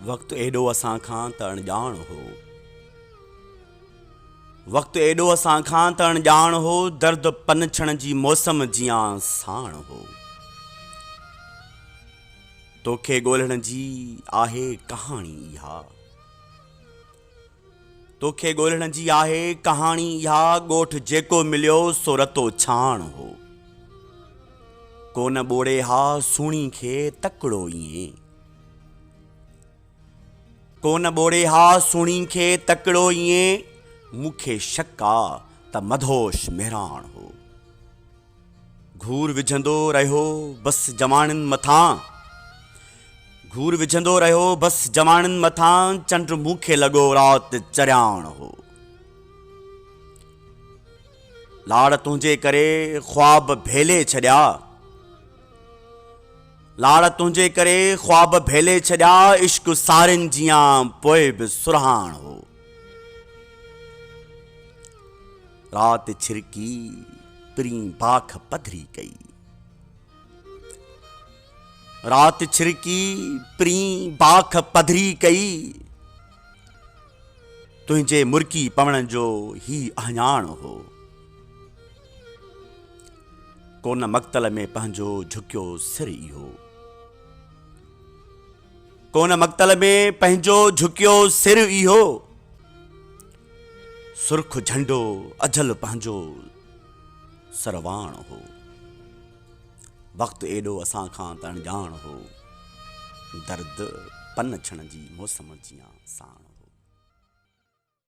وقت ايڏو اسان کان ته اڻڄاڻ هو. وقت ايڏو اسان کان ته اڻڄاڻ هو، درد پنڇڻ جي موسم جيان ساڻ هو. توکي ڳولهڻ جي آهي ڪهاڻي اها. توکي ڳولهڻ جي آهي ڪهاڻي اها ڳوٺ جيڪو مليو سو رتو ڇاڻ هو ڪونه ٻوڙي ها سهڻي کي تڪڙو ائين ڪونه ٻوڙي ها سهڻي کي تڪڙو ائين مونکي شڪ آ ته مڌوش مهراڻ هو گهور وجهندو رهيو بس جواڻين مٿان گهور وجهندو رهيو بس جواڻين مٿان چنڊ مون کي لڳو رات چرياڻ هو لاڙ تنهنجي ڪري خواب ڀيلي ڇڏيا لاڙ تنهنجي ڪري خواب ڀيلي ڇڏيا عشق سارين جيان پوء به سرهاڻ هو رات ڇرڪي پرين باک پڌري ڪئي. رات ڇرڪي پرين باک پڌري ڪئي. تنهنجي مرڪي پوڻ جو هي اهڃاڻ هو. ڪونه مقتل ۾ پنهنجو جهڪيو سر اهو. ڪونه مقتل ۾ پنهنجو جهڪيو سر اهو سرخ جهنڊو اجهل پنهنجو سرواڻ هو وقت ايڏو اسان کان ته اڻڄاڻ هو درد پنڇڻ جي موسم جيان ساڻ هو